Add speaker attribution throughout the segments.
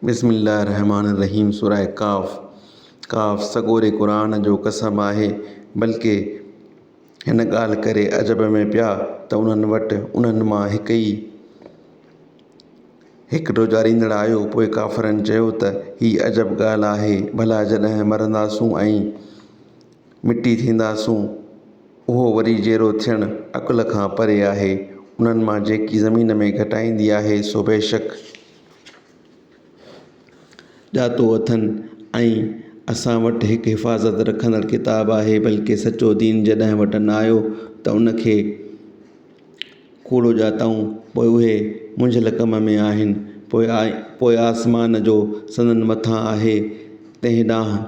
Speaker 1: بسم الله الرحمٰن الرحيم سوره قاف، قاف، سڳوري قرآن جو قسم آهي، بلڪه هن ڳالهه ڪري عجب ۾ پيا ته انهن وٽ انهن مان هڪ ئي هڪ ڊوجهاريندڙ آيو، پوء ڪافرن چيو ته هي عجب ڳالهه آهي، ڀلا جڏهن مرنداسون ۽ مٽي ٿينداسون، اهو وري جيئرو ٿيڻ عقل کان پري آهي، انهن مان جيڪي زمين ۾ گهٽائيندي آهي، سو بيشڪ. ڄاتو اٿن ۽ اسان وٽ هڪ حفاظت رکندڙ ڪتاب آهي بلڪه سچو دين جڏهن وٽن آيو ته ان کي ڪوڙو ڄاتائون پوء اهي منجهيل ڪم ۾ آهن پوء آسمان جو سندن مٿان آهي تنهن ڏانهن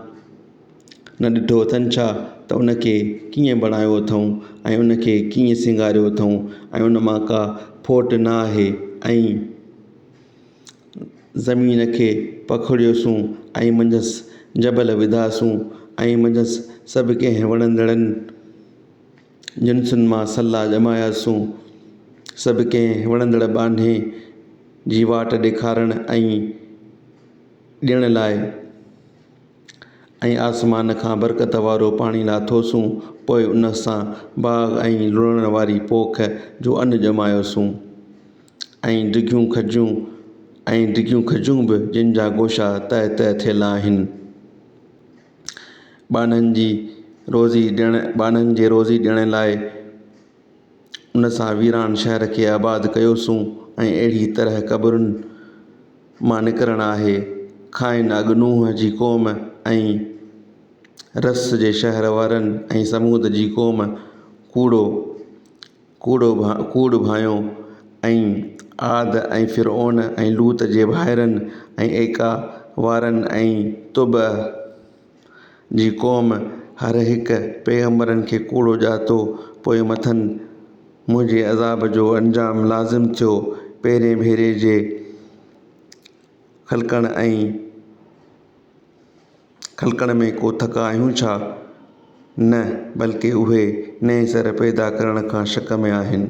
Speaker 1: نه ڏٺو اٿن ڇا ته ان کي ڪيئن بڻايو اٿئون ۽ ان کي ڪيئن سينگاريو اٿئون ۽ ان مان ڪا ڦوٽ نه آهي ۽ زمين کي پکڙيوسون ۽ منجهس جبل وڌاسون ۽ منجهس سڀ ڪنهن وڻندڙ جنسن مان سلا ڄماياسون سڀ ڪنهن وڻندڙ ٻانهي جي واٽ ڏيکارڻ ۽ ڏيڻ لاء ۽ آسمان کان برڪت وارو پاڻي لاٿوسون، پوء ان سان باغ ۽ لڙڻ واري پوک جو ان ڄمايوسون، ۽ ڊگهيون کجون ۽ ڊگهيون کجون به جن جا گوشا تهه تهه ٿيل آهن. ٻانهن جي روزي ڏيڻ، ٻانهن جي روزي ڏيڻ لاء، ان سان ويران شهر کي آباد ڪيوسون ۽ اهڙيء طرح قبرن مان نڪرڻ آهي. کانئن اڳ نوح جي قوم ۽ رس جي شهر وارن ۽ ثمود جي قوم ڪوڙو ڪوڙو ڪوڙ ڀانئيو ۽ عاد ۽ فرعون ۽ لوط جي ڀائرن ۽ ايڪا وارن ۽ طبع جي قوم هر هڪ پيغمبرن کي ڪوڙو ڄاتو، پوء مٿن منهنجي عذاب جو انجام لازم ٿيو، پهرين ڀيري جي خلقڻ ۽ خلقڻ ۾ ڪو ٿڪ آهيون ڇا؟ نه، بلڪه اهي نئين سر پيدا ڪرڻ کان شڪ ۾ آهن.